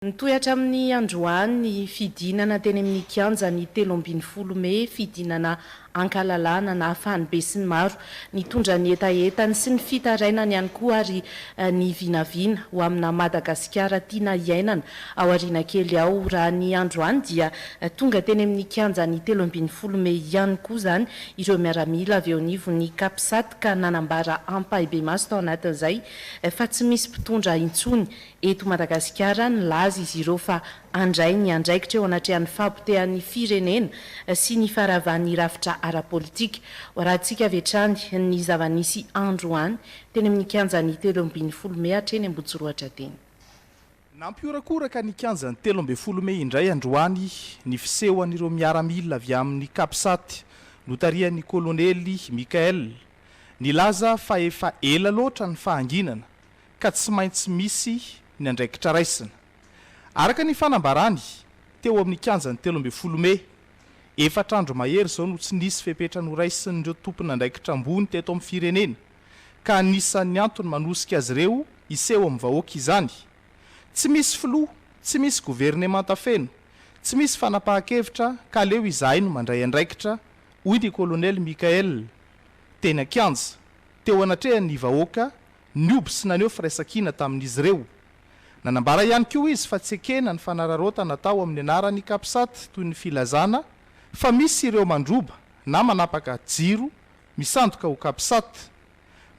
Nitohy hatramin'ny androany ny fidinana teny amin'ny kianja ny telo ambin'ny folo mey, fidinana ankalalahana nahafahan'ny besinimaro nitondra ny hetahetany sy ny fitarainany ihany koa ary ny vinavina ho amina Madagasikara tiana hiainana ao aoriana kely ao. Raha ny androany dia tonga teny amin'ny kianja ny telo ambin'ny folo mey ihany koa izany ireo miaramila avy eo anivon'ny Capsat ka nanambara ampahibemaso tao anatin'izay fa tsy misy mpitondra intsony eto Madagasikara, nilaza izy ireo fa handray ny andraikitra eo anatrehan'ny fahapotehan'ny firenena sy ny faharavan'ny rafitra ara-politika. Hoarahantsika avy hatrany ny zava-nisy androany teny amin'ny kianjan'ny telo ambin'ny folo mey hatreny Ambohijorohatra teny. Nampihorakoraka ny kianjan'ny telo ambin'ny folo mey indray androany ny fisehoan'ireo miaramila avy amin'ny Capsat notarihan'ny kolonely Michael, nilaza fa efa ela loatra ny fahanginana ka tsy maintsy misy ny andraikitra raisina. Araka ny fanambarany, teo amin'ny kianjan'ny telo ambin'ny folo mey, efatra andro mahery izao no tsy nisy fepetra noraisin'ireo tompon'andraikitra ambony teto amin'ny firenena, ka anisan'ny antony manosika azy ireo hiseho amin'ny vahoaka izany. Tsy misy filoha, tsy misy governemanta feno, tsy misy fanapahan-kevitra ka aleo izahay no mandray andraikitra, hoy ny kolonely Michael, teny an-kianja, teo anatrehan'ny vahoaka Nihoby sy naneho firaisankina tamin'izy ireo. Nanambara ihany koa izy fa tsy ekena ny fanararaotana atao amin'ny anaran'ny Capsat toy ny filazana fa misy ireo mandroba na manapaka jiro misandoka ho Capsat,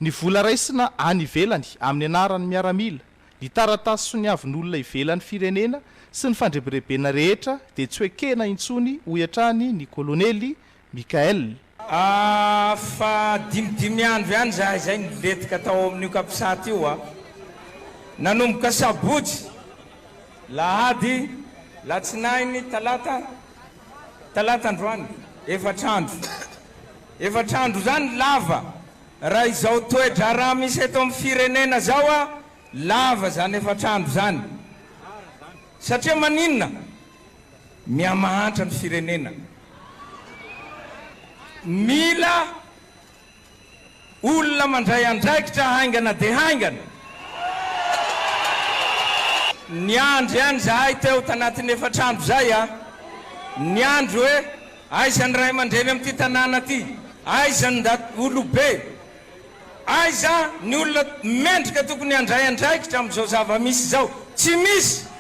ny vola raisina any ivelany amin'ny anaran'ny miaramila, ny taratasy soniavin'olona ivelan'ny firenena sy ny fandrebirebena rehetra dia tsy ho ekena intsony hoy hatrany ny Kolonely Michael. A fa dimy dimy andro ihany izahay izay nilentika tao amin'io capsat io a! Nanomboka sabotsy, lahady, latsinainy, talata, talata androany, efatra andro. Efatra andro izany lava, raha izao toe-draharaha misy eto amin'ny firenena izao a, lava izany efatra andro izany. Satria maninona? Mihamahantra ny firenena. Mila olona mandray andraikitra haingana dia haingana. Niandry an izahay teo tanatin'ny efatra andro izay a. Niandry hoe aiza ny ray aman-dreny amin'ity tanàna ity? Aiza ny ndat olobe? Aiza ny olona mendrika tokony handray andraikitra amin'izao zava-misy izao? Tsy misy!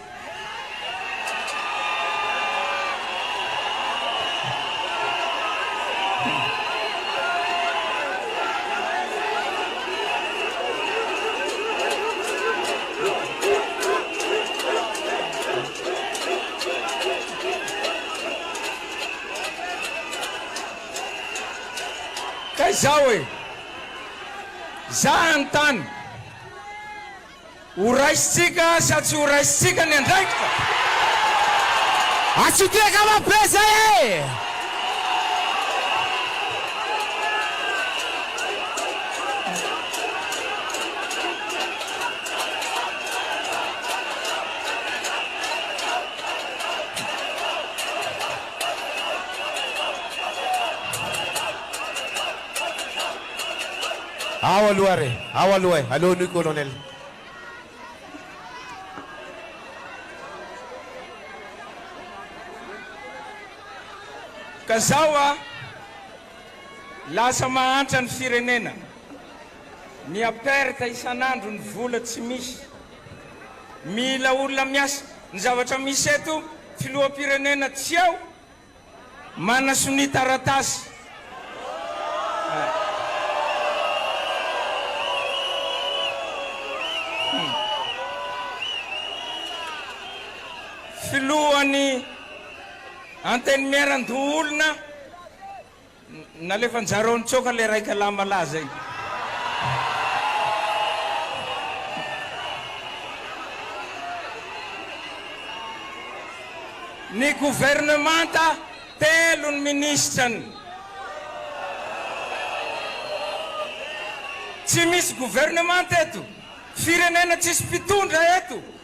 Ka izao e! Za hanontany, ho raisintsika sa tsy ho raisintsika ny andraikitra? Atsy ty ankamarobe zay e! Ao aloha re, ao aloha e, aleo anio Colonel. Ka zao a, lasa mahantra ny firenena, mia perte isan'andro ny vola tsy misy, mila olona miasa. Ny zavatra misy eto, filoham-pirenena tsy ao, manana sonia taratasy. Filohan'ny Antenimieran-doholona. Nalefanjareo nitsoaka le raika lahy malaza iny. Ny governemanta telo ny ministrany. Tsy misy governemanta eto, firenena tsisy mpitondra eto.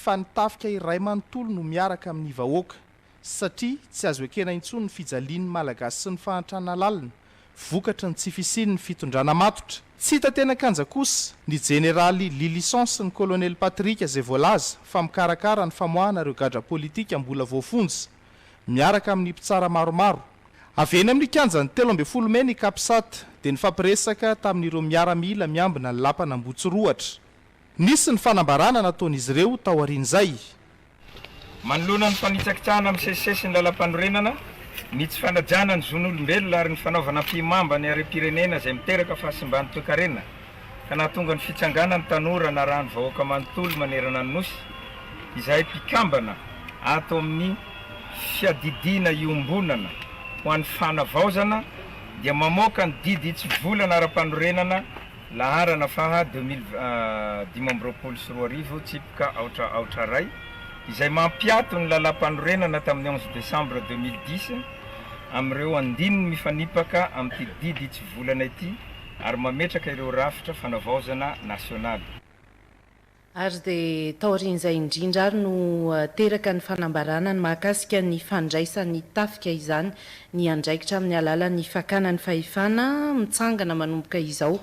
fa ny tafika iray manontolo no miaraka amin'ny vahoaka, satria tsy azo ekena intsony ny fijalian'ny Malagasy sy ny fahantrana lalina, vokatry ny tsy fisian'ny fitondrana matotra. Tsy hita teny an-kanja kosa ny Jeneraly Lylison sy ny Kolonely Patrick izay voalaza fa mikarakara ny famoahana ireo gadra politika mbola voafonja, miaraka amin'ny mpitsara maromaro. Avy eny amin'ny kianjan'ny telo ambin'ny folo mey ny Capsat dia nifampiresaka tamin'ireo miaramila miambina ny lapan'Ambohitsirohatra. Nisy ny fanambarana nataon'izy ireo taorian'izay. Manoloana ny fanitsakitsahana misesisesy ny Lalampanorenana, ny tsy fanajana ny zon'olombelona ary ny fanaovana ampihimamba ny harem-pirenena izay miteraka fahasimban'ny toekarena ka nahatonga ny fitsanganan'ny tanora narahan'ny vahoaka manontolo manerana ny Nosy izahay mpikambana ato amin'ny fiadidiana iombonana ho an'ny fanavaozana dia mamoaka ny didy hitsivolana ara-panorenana Laharana faha deux mille dimy amby roapolo sy roa arivo, tsipika aotra aotra iray, izay mampiato ny Lalàmpanorenana tamin'ny onze décembre deux mille dix amin'ireo andininy mifanipaka amin'ity didy hitsivolana ity ary mametraka ireo rafitra fanavaozana nasionaly. ary dia taorian'izay indrindra ary no teraka ny fanambarana ny mahakasika ny fandraisan'ny tafika izany ny andraikitra amin'ny alalan'ny fakana ny fahefana, mitsangana manomboka izao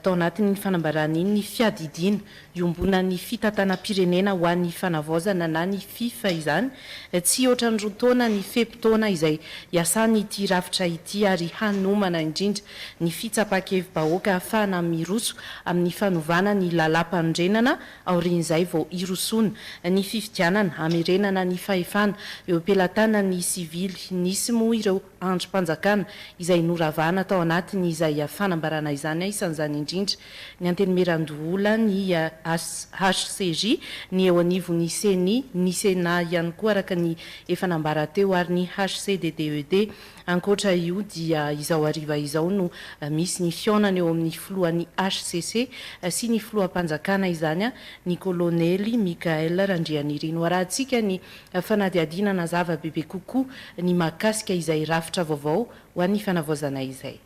tao anatin'iny fanambarana iny ny fiadidiana iombonan'ny fitantanam-pirenena ho an'ny fanavaozana na ny fifa izany Tsy hoatra ny roa taona ny fe-potoana izay hiasany ity rafitra ity ary hanomana indrindra ny fitsapan-kevi-bahoaka afahana miroso amin'ny fanovana ny lalàmpanorenana aorian'izay vao hirosoana ny fifidianana hamerenana ny fahefana eo am-pelatanan'ny sivily. Nisy moa ireo. andrim-panjakana izay noravana tao anatin' izay fanambarana izany, isan' izany indrindra ny Antenimierandoholana, ny HCJ, ny eo anivon' ny Ceni, ny Senat ihany koa araka ny efa nambara teo ary ny HCDDED. Ankoatra io dia izao hariva izao no misy ny fihaonana eo amin' ny filohan' ny hcc sy ny filoham-panjakana izany, ny kôlônely Michaël Randrianirina. Ho arahantsika ny Fanadihadiana hanazava bebe kokoa ny mahakasika izay rafitra vaovao ho an'ny fanavaozana izay.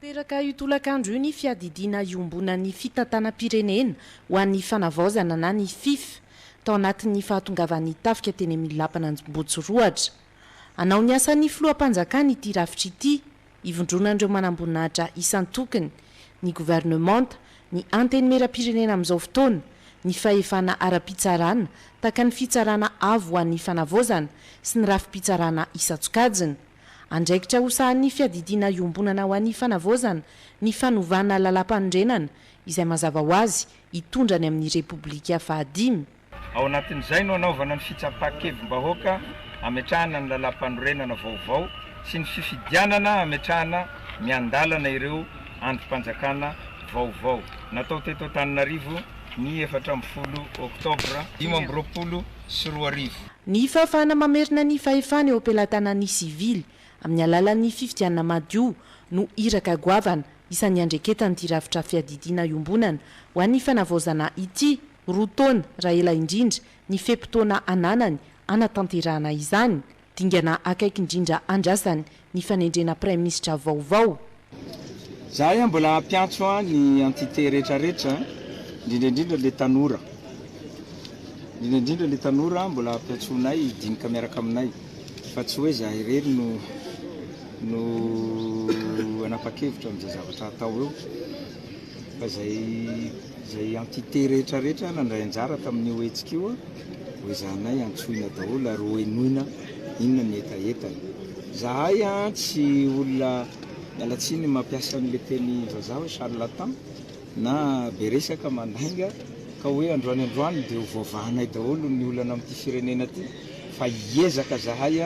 Teraka io tolakandro io ny fiadidiana iombonan'ny fitantanam-pirenena ho an'ny fanavaozana na ny Fifth tao anatin'ny fahatongavan'ny tafika teny amin'ny lapan'Anjombotsirohatra. Hanao ny asan'ny filoham-panjakana ity rafitra ity ivondronan'ireo manamboninahitra isan-tokony, ny governemanta, ny Antenimierampirenena amin'izao fotoana, ny fahefana ara-pitsarana, tahaka ny Fitsarana Avo ho an'ny Fanavaozana sy ny rafi-pitsarana isan-tsokajiny. Andraikitra ho sahanin'ny Fiadidiana Iombonana ho an'ny Fanavaozana ny fanovana Lalàmpanorenana izay mazava ho azy hitondra ny amin'ny Repoblika fahadimy. Ao anatin'izay no hanaovana ny fitsapan-kevim-bahoaka hametrahana ny lalàmpanorenana vaovao sy ny fifidianana hametrahana miandalana ireo andrim-panjakana vaovao natao teto Antananarivo ny efatra ambin'ny folo oktobra dimy amby roapolo sy roa arivo. Ny fahafahana mamerina ny fahefana eo am-pelatanan'ny sivily amin'ny alalan'ny fifidianana madio no iraka goavana isan'ny iandreketan'ity rafitra fiadidiana iombonana ho an'ny fanavaozana ity, roa taona raha ela indrindra ny fe-potoana ananany hanatanterahana izany, dingana akaiky indrindra andrasany ny fanendrena praiminisitra vaovao. Izahay mbola hampiantso ny entité rehetrarehetra, indrindra indrindra ilay tanora, indrindra indrindra ilay tanora mbola hampiantsoanay hidinika miaraka aminay, fa tsy hoe izahay irery no no hanapa-kevitra amin'izay zavatra hatao eo. Fa izay izay entité rehetra rehetra nandray anjara tamin'io hetsika io, hoezahanay antsoina daholo ary hohenoina inona ny hetahetany. Izahay tsy olona, miala tsiny, mampiasa an'ilay teny vazaha hoe charlatan na be resaka, mandainga, ka hoe androany androany dia ho voavahanay daholo ny olana amin'ity firenena ity fa hiezaka izahay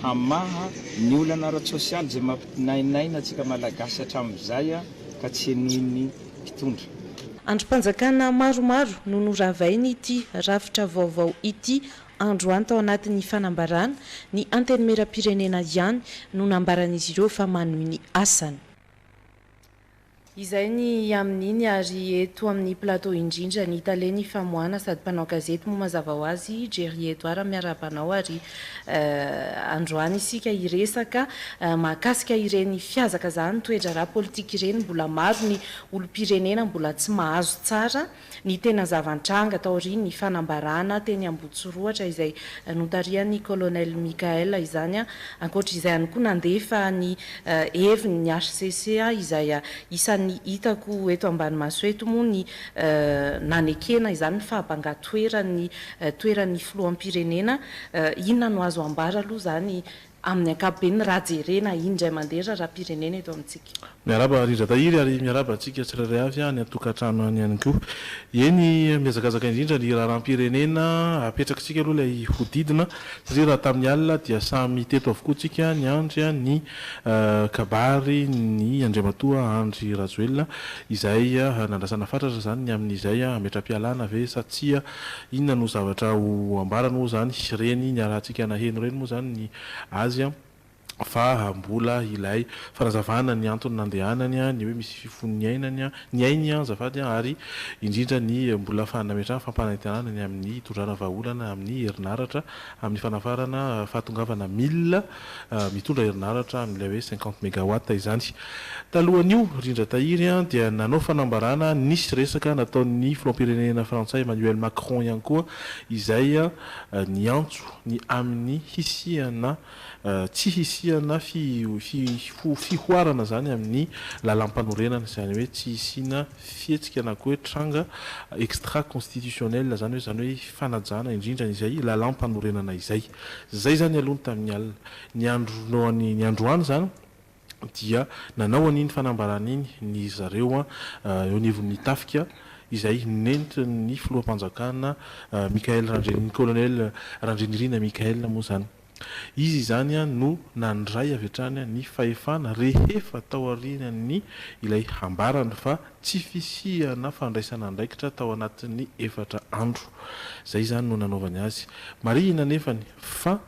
hamaha ny olana ara-tsosialy izay mampinainaina antsika Malagasy hatramin'izay. ka tsy henoin'ny mpitondra. Andrim-panjakana maromaro no noravain'ity rafitra vaovao ity androany tao anatin'ny fanambarana, ny Antenimierampirenena ihany no nambaran'izy ireo fa manohy ny asany. Izay ny amin'iny ary eto amin'ny plateau indrindra ny tale ny famoahana sady mpanao gazety moa mazava ho azy, Jerry Edouard miarahaba anao ary Androany isika hiresaka mahakasika ireny fihazakazahany toe-draharaha politika ireny, mbola maro ny olom-pirenena mbola tsy mahazo tsara ny tena zava-nitranga taorian'ny fanambarana teny Ambohitsorohatra izay notarihan'ny Colonel Michaël izany, ankoatra izay ihany koa nandefa ny heviny ny hcc izay isan'ny hitako eto ambany maso eto moa ny nanekena izany ny fahabangatoeran'ny toeran'ny filoham-pirenena, inona no azo ambara aloha izany amin'ny ankapobeny raha jerena indray mandeha ny raharaham-pirenena eto amintsika? Miarahaba Rindra Tahiry ary miarahaba antsika tsirairay avy any an-tokantrano any ihany koa. Eny, mihazakazaka indrindra ny raharaham-pirenena, apetrakitsika aloha ilay hodidina satria raha tamin'ny alina dia samy teto avokoa tsika niandry ny kabary ny Andriamatoa Andry Rajoelina izay nandrasana fatratra izany ny amin'izay hametram-pialana ve sa tsia, inona no zavatra ho ambarany moa izany, ireny niarahantsika naheno ireny moa izany ny azy fa mbola ilay fanazavana ny antony nandehanany, ny hoe misy fifony ny ainany, ny ainy azafady, ary indrindra ny mbola fa nametrahany fampanantenana ny amin'ny hitondrana vahaolana amin'ny herinaratra amin'ny fanafarana fahatongavana mil. mitondra herinaratra amin'ilay hoe cinquante megawatts izany. Talohan'io, Rindra Tahiry, dia nanao fanambarana nisy resaka nataon'ny filoham-pirenena frantsay Emmanuel Macron ihany koa izay niantso ny amin'ny hisiana tsy hisiana fihoarana izany amin'ny lalàmpanorenana, izany hoe tsy hisiana fihetsika na koa hoe tranga extra constitutionnel zany hoe zany hoe fanajana indrindra izay lalam-panorenana izay. Zay zany aloha ny tamin'ny alina. Ny andron'ny ny androany zany dia nanao an'iny fanambarana iny ny zareo eo anivon'ny tafika izay nentin'ny filoham-panjakana Michaël Randrianirina, colonel Randrianirina Michaël moa zany. Izy izany no nandray avy hatrany ny fahefana rehefa taorian'ny ilay hambarany fa tsy fisiana fandraisana andraikitra tao anatin'ny efatra andro. Izay izany no nanaovany azy. Marihina anefany fa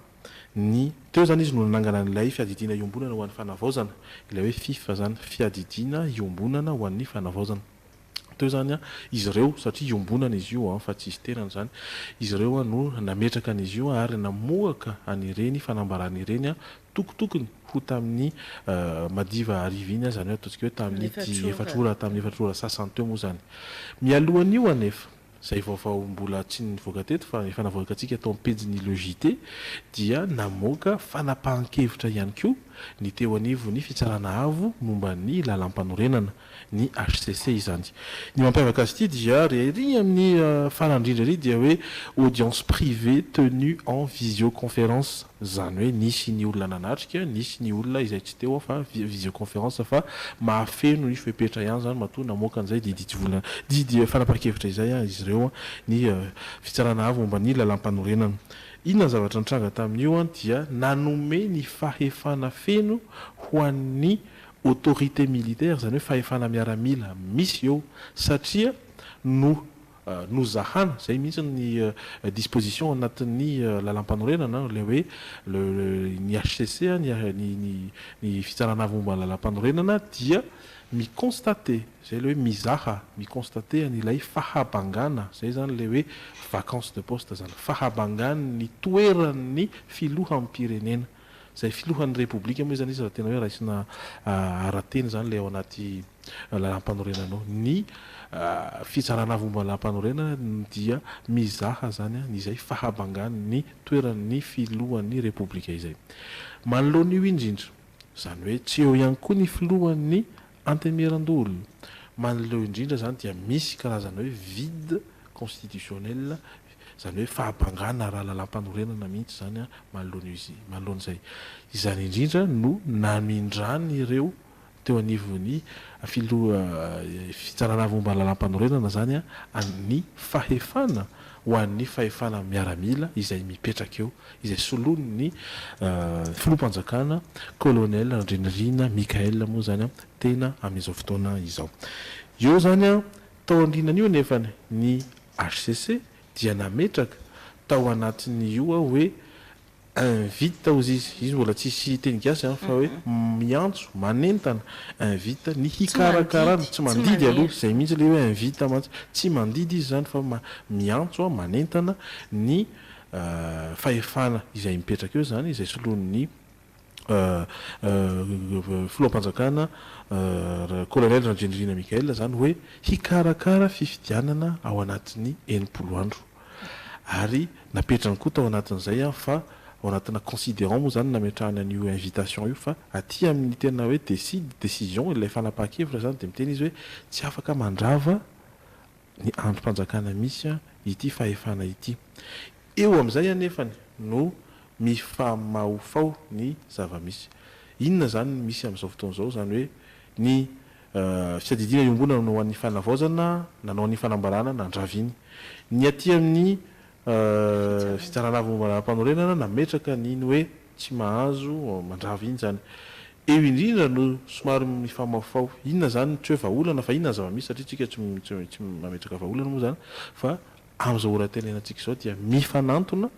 ny. Teo izany izy no nanangana an'ilay fiadidiana iombonana ho an'ny fanavaozana, ilay hoe fifa izany, fiadidiana iombonana ho an'ny fanavaozana. teo izany an, izy ireo, satria iombonana izy io an, fa tsy izy tenany izany, izy ireo an no nametraka an' izy io ary namoaka an' ireny fanambarana ireny an, tokotokony ho tamin' ny madiva hariva iny an, izany hoe ataontsika hoe tamin' ity efatra ora, tamin' ny efatra ora sasany teo moa izany. Mialohan' io anefa. izay vaovao mbola tsy nivoaka teto fa efa navoakantsika tao amin'ny pejin'ny Le JT, dia namoaka fanapahan-kevitra ihany koa ny teo anivon'ny Fitsarana Avo momba ny Lalàmpanorenana, ny hcc, izany. Ny mampiavaka azy ity dia re ery amin'ny farany indrindra ery dia hoe audience privée tenue en visioconférence. Izany hoe nisy ny olona nanatrika, nisy ny olona izay tsy teo fa via visioconférence fa mahafeno ny fepetra ihany izany matoa namoaka an'izay didy tsy vola didy fanapahan-kevitra izay izy ireo ny Fitsarana Avo momba ny Lalampanorenana. Inona ny zavatra nitranga tamin'io dia nanome ny fahefana feno ho an'ny autorité militaire izany hoe fahefana miaramila misy eo satria no nozahana, izay mihitsy ny disposition anatin'ny lalàmpanorenana, ilay hoe le ny HCC, ny Fitsarana Avo momba ny Lalàmpanorenana dia mi-constater, izay ilay hoe mizaha, mi-constater an'ilay fahabangana, izay izany ilay hoe vacance de poste izany, fahabangan'ny toeran'ny Filoham-pirenena. Izay filohan'ny Repoblika moa izany izy raha tena hoe raisina ara-teny izany ilay ao anaty lalàmpanorenanao. Ny fitsarana avy momba ny lalàmpanorenana dia mizaha izany izay fahabangan'ny toeran'ny filohan'ny Repoblika izay. Manoloana io indrindra, izany hoe tsy eo ihany koa ny filohan'ny Antemieran-dolo. Manoloeo indrindra izany dia misy karazana hoe vide constitutionnel, izany hoe fahabangana ara-lalàmpanorenana mihitsy izany manoloan'izay. Izany indrindra no namindran'ireo teo anivon'ny filoha Fitsarana momba ny Lalàmpanorenana izany ny fahefana ho an'ny fahefana miaramila izay mipetraka eo izay solon' ny Filoham-panjakana Colonel Randrianirina Michaël moa izany tena amin' izao fotoana izao. Eo izany, tao aorianan' io anefa ny hcc dia nametraka tao anatin' io hoe invite hozy izy, izy mbola tsisy teny gasy fa hoe miantso, manentana, invite, ny hikarakarana, tsy mandidy aloha, izay mihitsy ilay hoe invite mantsy, tsy mandidy izy izany fa miantso, manentana, ny fahefana izay mipetraka eo izany, izay soloin'ny filoham-panjakana Kolonely Randriandriana Michael izany hoe hikarakara fifidianana ao anatin'ny enimpolo andro ary napetrany koa tao anatin'izay fa ao anatina considerant moa izany nametrahany an'io invitation io fa aty amin'ny tena hoe decide, décision, ilay fanapahan-kevitra izany dia miteny izy hoe tsy afaka mandrava ny andrim-panjakana misy ity fahefana ity. Eo amin'izay anefany no mifamahofaho ny zava-misy. Inona izany no misy amin'izao fotoana izao? Izany hoe ny fiadidiana iombonana no ho an'ny fanavaozana, nanao ny fanambarana, nandraviny. Ny aty amin'ny fitsarana avo momba ny lalàmpanorenana nametraka ny ny hoe. Tsy mahazo mandrava iny zany. Eo indrindra no somary mifamaofao. Inona zany ny ceux vahaolana fa inona ny zava-misy satria tsika tsy tsy mametraka vahaolana moa zany fa amin'izao ora itenerantsika izao dia mifanantona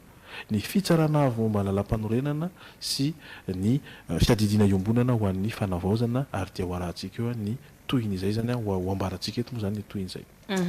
ny fitsarana avy momba ny lalampanorenana sy ny fiadidiana iombonana ho an'ny fanavaozana ary dia ho arahantsika eo ny tohin'izay zany ho ambarantsika eto moa zany ny tohin'izay.